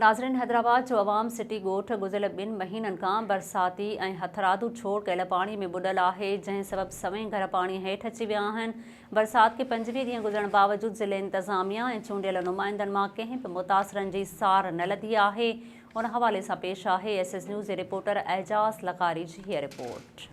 ناظرين حيدرآباد جو عوام سٽي ڳوٺ گذريل ٻن مهينن کان برساتي ۽ هٿرادو ڇوڙ ڪيل پاڻي ۾ ٻڏل آهي جنهن سبب سوين گهر پاڻي هيٺ اچي ويا آهن برسات کي پنجويهه ڏينهن گذرڻ باوجود ضلعي انتظاميا ۽ چونڊيل نمائندن مان ڪنهن به متاثرن جي سار نه لڌي آهي ان حوالي سان پيش آهي ايس ايس نيوز جي رپورٽر اعجاز لغاري جي هيء رپورٽ.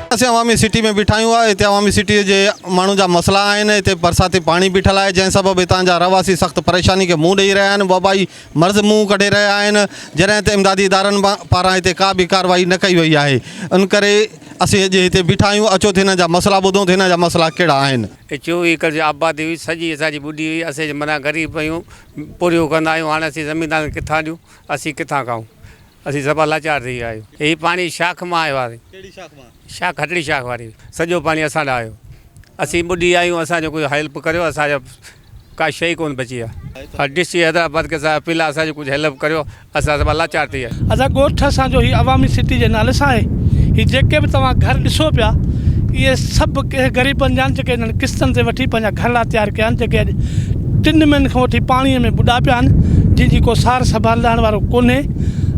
اسين عوامي سٽي ۾ بيٺا آهيون هتي عوامي سٽي جي ماڻهن جا مسئلا آهن هتي برساتي پاڻي بيٺل آهي جنهن سبب هتان جا رهواسي سخت پريشاني کي منهن ڏئي رهيا آهن وبائي مرض منهن ڪڍي رهيا آهن جڏهن ته امدادي ادارن پاران هتي ڪا به ڪارروائي نه ڪئي وئي آهي ان ڪري اسين اڄ هتي بيٺا آهيون اچو ته هنن جا مسئلا ٻڌون ته هنن جا مسئلا ڪهڙا آهن. هي چوويهه ايڪڙ جي آبادي هئي سڄي اسان جي ٻڏي وئي اسين منا غريب آهيون پورهيو ڪندا آهيون هاڻي اسين زميندارن کي ڪٿان ڏيون اسين ڪٿان کائون. اسين سڀا لاچار ٿي ويا آهيون. هي پاڻي شاخ مان آيو آهي. ڪهڙي شاخ مان؟ شاخ هٽڙي شاخ واري. سڄو پاڻي اسان ڏانهن آيو. اسين ٻڏي ويا آهيون اسان جو ڪجهه هيلپ ڪريو اسان جا ڪا شيء ئي ڪونه بچي آهي. ڊي سي حيدرآباد کي سان اپيل آهي اسان جي ڪجهه هيلپ ڪريو اسان سڀا لاچار ٿي ويا آهيون. اسان ڳوٺ اسان جو هي عوامي سٽي جي نالي سان آهي. هي جيڪي به توهان گهر ڏسو پيا اهي سڀ ڪنهن غريبن جا آهن جيڪي هنن قسطن تي وٺي پنهنجا گهرڙا تيار ڪيا آهن جيڪي اڄ ٽن مهينن کان وٺي پاڻيء ۾ ٻڏا پيا آهن، جن جي ڪو سار سنڀال ڏاهڻ وارو ڪونهي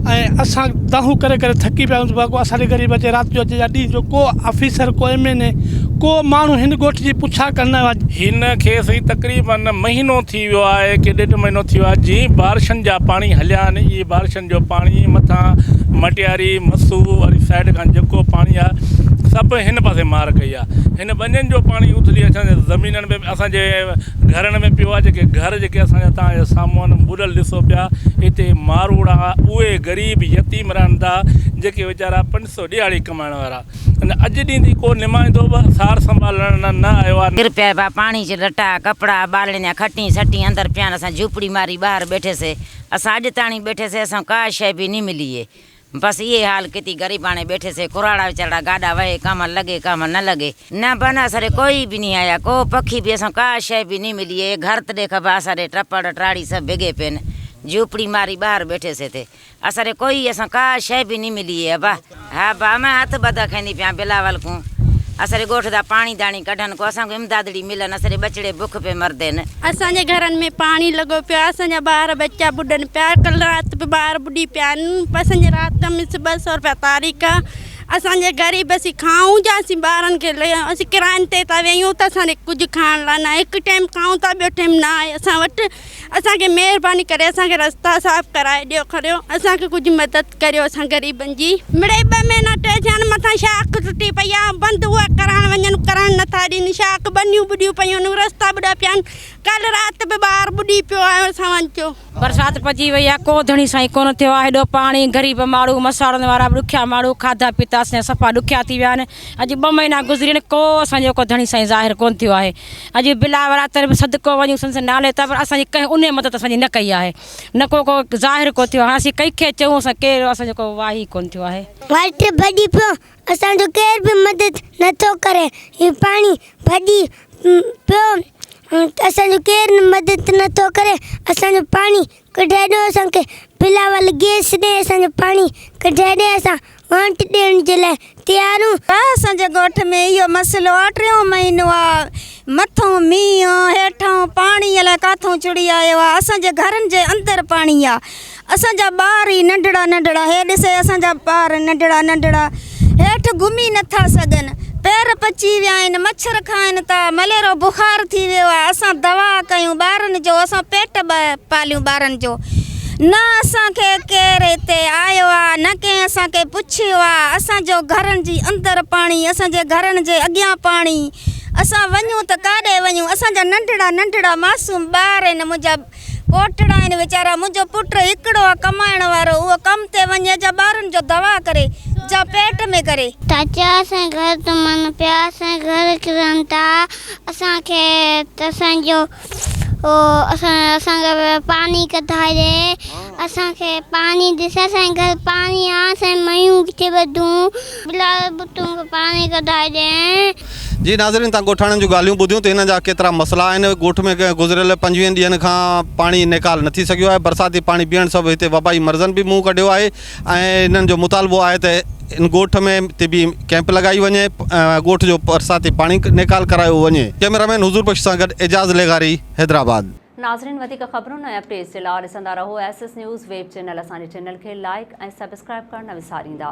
۽ اسان دانهون ڪري ڪري ٿڪي پيا آهيون ته ڀاڳو اسان ڏي غريب اچي رات جو اچي يا ڏينهن جو ڪو آفيسر ڪو ايم اين اي ڪو ماڻهو هن ڳوٺ جي پڇا ڪرڻ لاء هن کي سائين تقريباً مهينو ٿي ويو آهي ڪي ڏيڍ مهينو ٿي ويو آهي جئين بارشن جا پاڻي هليا آهن اهي بارشن جو پاڻي مٿان مٽياري مسو واري سائيڊ کان جيڪو پاڻي آهي سڀ هن پاسي مار ڪئي آهي هن ٻنين جو پاڻي اٿلي اسان جي زمينن ۾ اسان جي گهرڻ ۾ پيو آ جيڪي گهر جيڪي اسان جا توهان جي سامهون ٻڏل ڏسو پيا اتي ماروئڙا اهي غريب يتيم رهن ٿا جيڪي ويچارا پنج سو ڏيهاڙي ڪمائڻ وارا ان اڄ ڏينهن تائين ڪو نمائندو به سار سنڀال لڙڻ نه آيو آ. ڪير پيا با پاڻي چي لٽا ڪپڙا ٻالڻين جا کٽين سٽين اندر پيا آهن اسان جهوپڙي ماري ٻاهر ٻيٺي سي اسان اڄ تاڻي ٻيٺي سي اسان ڪا شئي به ني ملي اي بس اهي حال ڪتي غريباڻي ٻيٺي سي ڪراڙا ويچارڙا گاڏا وهي ڪامل لڳي ڪامل نه لڳي نه بن اسري ڪوئي به ني آيا ڪو پکي به اسان ڪا شئي به ني ملي اي گهر تڏي کبا اسري ٽپڙ ٽاڙي سڀ بگي پين جهوپڙي ماري ٻاهر ٻيٺي سي تي اسري ڪوئي اسان ڪا شئي به ني ملي اي ابا ها با م هٿ ٻڌ کيندي پيان بلاول ڪون اسري ڳوٺ دا پاڻي داڻي ڪڍن ڪو اسان ڪو امدادڙي ملن اسري ٻچڙي بک پي مردين. اسان جي گهرن ۾ پاڻي لڳو پيو آهي اسان جا ٻار ٻچا ٻڏن پيا ڪل رات به ٻار ٻڏي پيا آهن اسان جي رات جا مس ٻه سو روپيا تاريخ آهي اسان جي غريب اسين کائون ڇا اسين ٻارن کي اسين ڪراين تي ٿا ويهون ته اسان ڏي ڪجهه کائڻ لاء ناهي هڪ ٽيم کائون ٿا ٻيو ٽيم نه آهي اسان وٽ اسان کي مهرباني ڪري اسان کي رستا صاف ڪرائي ڏيو اسان کي ڪجهه مدد ڪريو اسان غريبن جي. مڙئي ٻه مهينا ٽي ٿيا آهن مٿان شاخ ٽٽي پئي آهي بند اها ڪرائڻ وڃن ڪرڻ نٿا ڏين شاخ ٻنيون ٻڏيون پيون آهن رستا ٻڏا پيا آهن ڪالهه رات به ٻار ٻڏي پيو آهي اسان جو. برسات پئجي وئي آهي ڪو ڌڻي سائين ڪونه ٿيو آهي هيڏو پاڻي غريب ماڻهو مساڙن وارا به ڏکيا ماڻهو کاڌا پيتا اسان جا صفا ڏکيا ٿي ويا آهن اڄ ٻه مهينا گذري ويا آهن ڪو اسان جو ڪو ڌڻي سائين ظاهر ڪونه ٿيو آهي اڄ بلا وراثت به صدقو وڃون سندس نالي تي پر اسان جي ڪنهن انهي مدد اسان جي نه ڪئي آهي. نڪو ڪو ظاهر ڪو ٿيو هاسين ڪنهن کي چئون اسان ڪير اسان جو ڪو واهي ڪونه ٿيو آهي. وٽ ڀڄي پيو اسان جو ڪير به مدد نه ٿو ڪري هي پاڻي ڀڄي پيو اسان جو ڪير مدد نه ٿو ڪري اسان جو پاڻي ڪڍي ڏيو اسان کي بلاول گيس ڏي اسان جو پاڻي ڪڍي ڏي اسان ووٽ ڏيڻ جي لاء تيارون. ته اسان جي ڳوٺ ۾ اهو مسئلو آ ٽيون مهينو آ مٿئون مينهن هيٺئون پاڻي الائي ڪاٿئون چڙي آيو آ اسان جي گهرن جي اندر پاڻي آ اسان جا ٻار ئي ننڍڙا ننڍڙا هي ڏسي اسان جا ٻار ننڍڙا ننڍڙا هيٺ گهمي نٿا سگهن پير پچي ويا آهن مڇر کائن ٿا مليرو بخار ٿي ويو آ اسان دوا ڪيون ٻارن جو اسان پيٽ پاليون ٻارن جو نه اسان کي ڪير هتي آيو آ نه ڪنهن اسان کي پڇيو آ اسان جو گهرن جي اندر پاڻي اسان جي گهرن جي اڳيان پاڻي اسان وڃون ته ڪاڏي وڃون اسان جا ننڍڙا ننڍڙا معصوم ٻار آهن منهنجا پوٽڙا آهن ويچارا منهنجو پٽ هڪڙو آ ڪمائڻ وارو اهو ڪم تي وڃي جا ٻارن جو دوا ڪري جا پيٽ ۾ ڪري. چاچا اسان گهر تمن پيا اسان گهر ڪرن ٿا اسان کي اسان جو. اسان کي پاڻي ڪڍائي اسان کي پاڻي ڏي اسان کي پاڻي آ اسان ميون ڪٿي ٻڌون بلال ڀٽو کي پاڻي ڪڍائي ڏي. جي ناظرين تان ڳوٺاڻن جون ڳالهيون ٻڌيون ته انهن جا ڪيترا مسئلا آهن ڳوٺ ۾ گذريل پنجويهن ڏينهن کان پاڻي نيڪال نٿي سگهيو آهي برساتي پاڻي بيهڻ سبب هتي وبائي مرضن به منهن ڪڍيو آهي ۽ انهن جو مطالبو آهي ته ان ڳوٺ ۾ طبي ڪئمپ لڳائي وڃي ۽ ڳوٺ جو برساتي پاڻي نيڪال ڪرايو وڃي ڪئميرا مين حضور بخش سان گڏ اعجاز لغاري حيدرآباد. ناظرين وڌيڪ خبرون ۽ اپڊيٽس جي لا ڏسندا رهو S S news web channel اسان جي چينل کي لائيڪ ۽ سبسڪرائيب ڪرڻ نه وساريندا.